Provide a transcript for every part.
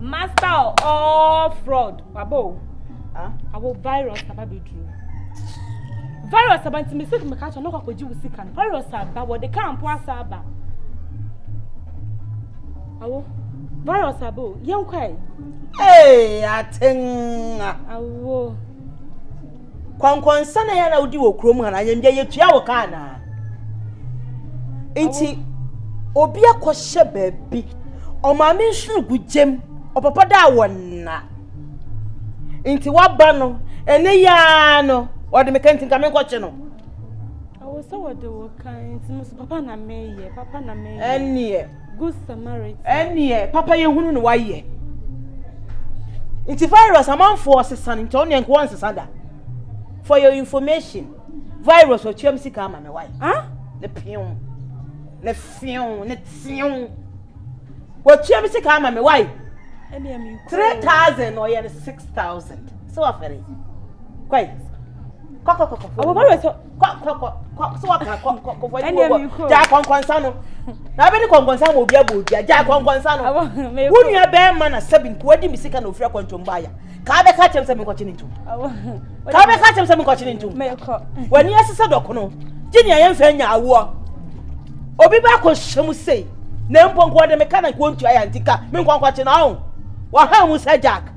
master all fraud waba o awo virus aba bɛduru virus aba nti mesɛ meka kyɛ no kɔkɔgye wo sika no virus aba wɔde ka mpo asa aba awo virus aba o yɛnkwae ee atenga awo kɔnkɔnsa na yɛn na wodi wɔ kurom ha na ayɛmdwa yɛtua wo kaa na nti obi akɔhyɛ baabi ɔmaame nhwiri gu gyam ɔpapa da a wɔnna nti waba no ɛne yaa no ɔde meka nti nka menkɔkye no ɛwɔ sɛ wɔde wo kan nti papa na meyɛ papa na meyɛ ɛneɛ Good Samaritan. Ɛneɛ papa yɛ hunu na wayɛ. Nti virus amanfoɔ sesa no nti ɔneɛ nka wɔn sesa da. For your information, virus ɔtuam sika ama me wae. Huh? Ne pew, ne few, ne tew. Wɔtuam sika ama me wae. Three thousand ɔyɛ no six thousand. Sɛ wafɛre. Kwae. kɔ kɔ kɔ kɔ fɔ ɔbɛbɔ sɔ kɔ kɔ kɔ kɔ sɔ wɔ kan kɔ kɔ kɔ fɔ ɛni wɔ bɔ gya kɔnkɔnsa no na abɛ ni kɔnkɔnsa ma obi abɔ obi agya kɔnkɔnsa no wo nua bɛɛ ma na sɛbi nkuwa di mi sika na ofura kɔntɔn mu baaya kaa bɛ ka kyɛm sɛ mi nkɔkye ne ntum kaa bɛ ka kyɛm sɛ mi nkɔkye ne ntum wɔ ni ɛsesɛ dɔkono gyi ni ɛyɛ nfɛ nya awoɔ obi bɛ akɔ hyɛ mu sei na mpɔnkɔ de mi ka na nkɔ ntua yɛ nti ka mi nkɔnkɔkye na ɔn wɔ ha mu sɛ jack.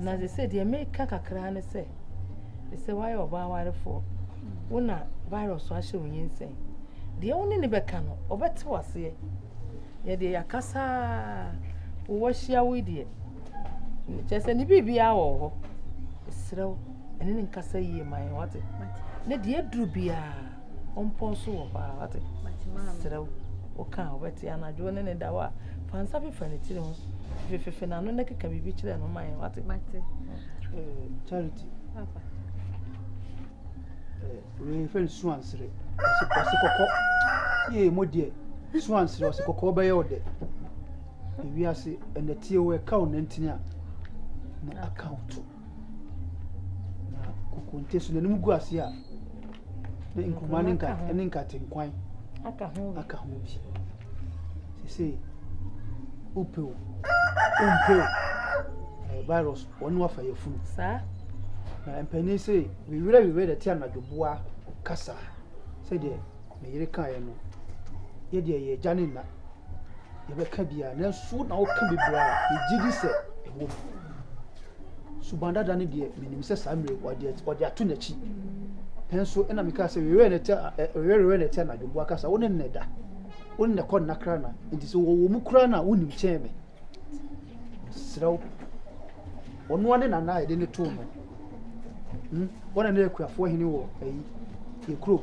Na sɛ deɛ meka kakra ne sɛ, sɛ woayɛ ɔbaa warefoɔ, wo na virus ahyɛ wo nyinsɛn. Deɛ wo ne ne bɛka no, ɔbɛte wo aseɛ. Yɛdeɛ yɛaka saa, wɔahyia wo deɛ. Kyɛ sɛ ne biribiara wɔ hɔ. Serɛ wo, ɛne ne nkasa yie ma yɛn wate. Ne deɛ aduru biara. ɔmpɔn so wɔ hɔ a wate serɛ wo woka a wobɛte anadwo ne ne da hɔ a fa nsa fefa ne tiri ho fefefefe n'ano na keka biribi kyerɛ no man wate eh, charity wei fɛ no suansere ɔse kɔkɔ yee mo deɛ suansere ɔse kɔkɔ ɔbɛyɛ wo dɛ ewiase ɛnɛteɛ wo ɛka wo nantini a na aka wo to Na kokonte so n'anim gu ase a na nkuruma ne nka ne nkatenkwan aka ho bi aka ho bi sese upe o umpe o ɛyɛ virus wɔn ne wafa yɛ funu saa na mpanyin se wiwerɛ wiwerɛ de te anadwo boa kasa sɛdeɛ ne yere kaeɛ no yɛdeɛ yɛ agya ne nna yɛbɛka biara nanso na woka bebree a megye di sɛ ɛwɔ mu. Suban dada no deɛ menim sɛ saa mmerɛ wɔde wɔde ato n'akyi nanso ɛna mekaa sɛ wewerɛ na ɛte wewerɛ na ɛte anadwo mmoa kasa wo ne nnɛ da wo ne nnɛ kɔ nna kra na nti sɛ wɔwɔ mu koraa na wonim kyɛn me serɛ wo ɔno ane nana a yɛde ne too no hmm? wɔne ne akuafoɔ hene wɔ ayi yɛ kurom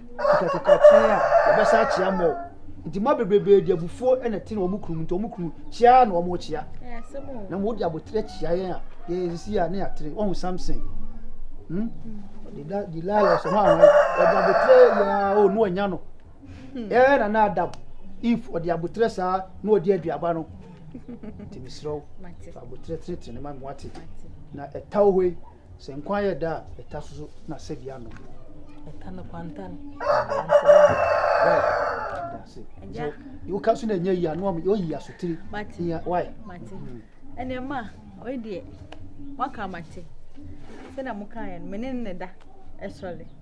kitakita kyɛn a wɔbɛsa akyea mmɔw. Nti mma bebrebe de abufuo na ɛte na wɔn kunu nti wɔn kunu kyea na wɔn kyea. Na wɔn de abotere kyea yɛn a yɛn si a ne yɛatere wɔn Samson. Hmm? Dida Delilah sɛ wɔn ahoɛ wɔde abotere yɛn o no anya no. Ɛɛ na na Adam if wɔde abotere saa na wɔde aduaba no. Nti mesrɛ wo fa abotere tenetene ne ma me wate na ɛtaw hɔ yi. Sɛ nkwa yɛ da a, ɛta so so na sɛbi ano. Ɛta no kwantan. Woka so na ɛnyɛ yi ano ɔmo oyi asotiri. Mate. Nya wai. Mate. Mm. Ɛnna ɛma ɔyɛ deɛ waka mate. Sɛnea mo kan yɛ no, mene ne da ɛsɔre.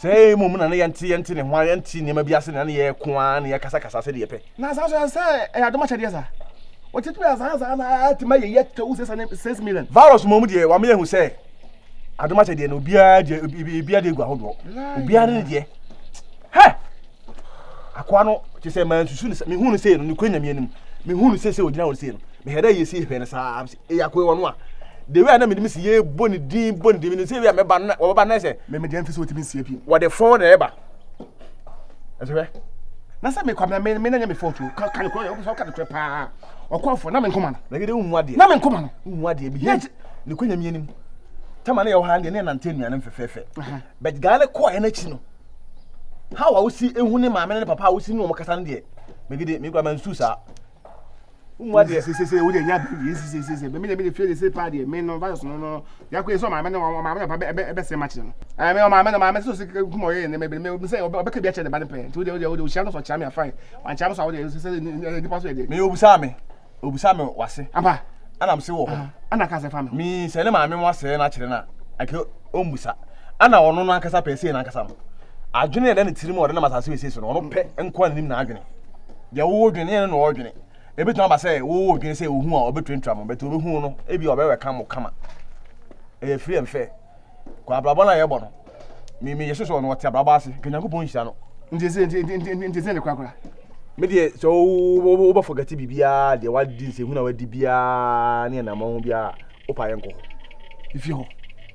sɛ ɛyɛ mmom na ne yɛnte yɛnte ne ho a yɛnte nneɛma bi ase na ne yɛko ara na yɛkasakasa sɛ deɛ yɛpɛ na saa so ɛsɛ sɛ ɛyɛ adom akyɛdeɛ saa wɔkyetumi asaasa na atumi ayɛ yɛ tɛwu sɛ sɛ six million virus mmom deɛ wɔn yɛ hu sɛ adom akyɛdeɛ no obiara deɛ obiara deɛ gu ahodoɔ obiara ne deɛ hɛ akoa no te sɛ maa nsusu ne sɛ mehu no sei no ne kura nyame anim mehu no sei sɛ ogyina hɔ sei no mehɛ dɛ yɛsi hwɛ no saa sɛ Eyi akoe wɔn a, the way a na mi nim si yɛ bɔ ne din bɔ ne din mi nim si ewi a mɛba na wɔbɛba na ɛsɛ. Mɛ mɛ deɛ nfi so ti mi nsia pii. Wɔde fon na ɛba. Ɛsɛ hwɛ. Na sɛ mi kɔ mɛ mɛ mɛ na nyɛ mi fɔn tu ka ka ne kura yɛ ɔkɔ sɛ ɔka ne kura paa ɔkɔ fɔ na mi nkoma no. Na gede nhu adeɛ. Na mi nkoma no. Nhu adeɛ bi yɛ ne kɔ nyamie nim. Tama ne yɛ ɔhan deɛ ne yɛ nante nnuane mfɛfɛɛfɛ. Bɛt gaa ne kɔ yɛ n'akyi no. How a wosi ehu ne maame ne papa a wosi ne wɔn kasa no deɛ. Mɛ gede mi kura mɛ nsu saa. Umu ade. Se se se ode nya bi. Se se se se. Be me de me de fie de se pa de me no virus no no. Ya ko eso ma me no ma me no pa be be se ma kire no. Eh me ma me no ma me so se ku mo ye ne me me se obe ka bi a kire de ba ne pe. Ti ode ode ode oshia no so chia me afan. Wan chia me so ode se se ni pa so de. Me obusa me. Obusa me wase. Apa. Ana me se wo ho. Ana ka se fa me. Me se ne ma me mo ase na kire na. Ake ombusa. Ana ono no ankasa pe se na ankasa no. Adwene na ne tirim ode na masase we se so no. Ono pe nko anim na adwene. deɛ wowɔ dwene yɛn na ɔdwene ebitumi aba sɛ wowɔ dwene sɛ ohu a ɔbɛtuatua mo bɛtɛ obehu no ebi ɔbɛwɛ ka mo kama ɛyɛ free and fair kɔ abrabɔ no a yɛbɔ no mimi yɛ soso ɔno ɔte abrabɔ ase ka nyankopɔn nhyira no nti sɛ nti nti nti nti sɛ ne korakora me deɛ sɛ wobɛfɔ oh, oh, gate biribiaa deɛ wadi nsɛhu na wadi biaa ne ɛnamɔ ho biaa wopa yɛnkɔ hɔ ɛfie hɔ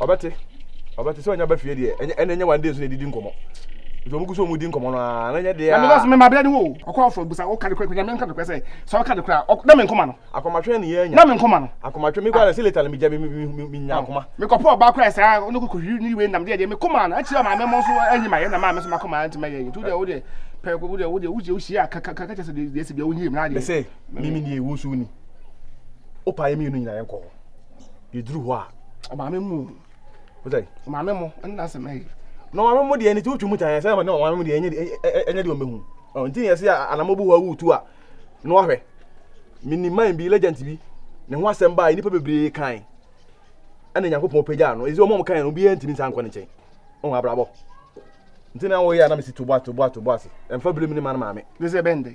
ɔbɛte ɔbɛte sɛ ɔnya ba fie deɛ ɛnyɛ ɛna ɛnyɛ one day so na ɛdidi nkɔmmɔ nti ɔmo gu so ɔmo di nkɔmmɔ no a na ɛnyɛ deɛ a. mebɛsɛ mema bɛɛ ne wo ɔkɔ afɔ busa woka de kora nyame nka de kora sɛ sɛ woka de kora na me nkoma no akomatwe ne yɛnya na me nkoma no akomatwe mekɔ ara sɛ leta no megya menya akoma mekɔpɔ ɔbaa kora saa ɔno kɔkɔhwiri ne wei nam deɛ deɛ mekoma no akyiri ama mɛmɔ nso anyi ma yɛ na maa me so makoma nti mɛyɛ nti wodeɛ wodeɛ pɛ wodeɛ wodeɛ wodeɛ wohyia kakakaka kyɛ sɛ deɛ ɛsi bia wonyie mu na adeɛ sɛ mimi deɛ wo so ni wopa yɛ mmienu nyina yɛnkɔ hɔ yɛduru hɔ a ɔmaame mu o wosɛ ɔmaame mo ɛne na asɛm ɛyɛ na ɔmaame mo deɛ ne ti wotwi mu tan sɛ na ɔmaame mo deɛ ɛnyɛ ɛnyɛ deɛ ɔmɛhu nti ne yɛsɛ anamɔ bu hɔ awu tu a na wahwɛ mini man bi legend bi ne ho asɛm baa nnipa bebree kan ɛna nyankopɔn pagya no ɛsɛ ɔmo ɔmo kan no obiara ntumi nsa nkɔ ne nkyɛn ɔmo abrabɔ nti na wɔyɛ a na mesi tobo atobo atobo ase ɛmfa bere mu ne ma no maame ne sɛ ɛbɛn de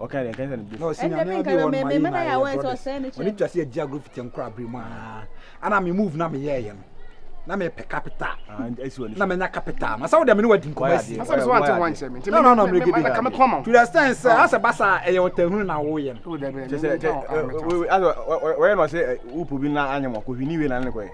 ɔka deɛ nka sɛ ne bo ɔsi na ne ɔde wɔn ma yi na yɛ brothers ɔne twa sɛ agye agorɔ fiti nkora abiri mu aa ana me move na me yɛ yɛ no na me pɛ capital na me nya capital na sɛ wo deɛ me ne wadi nkɔmɔ asi na sɛ so ante ho ankyɛ me nti na na na me gidi ka me kɔn ma to the stand sɛ asɛ basa ɛyɛ ɔtahunu na wo yɛ no kyɛ sɛ wɔyɛ no sɛ wo probi na anyɛ mo akɔhwi ni we na ne kɔyɛ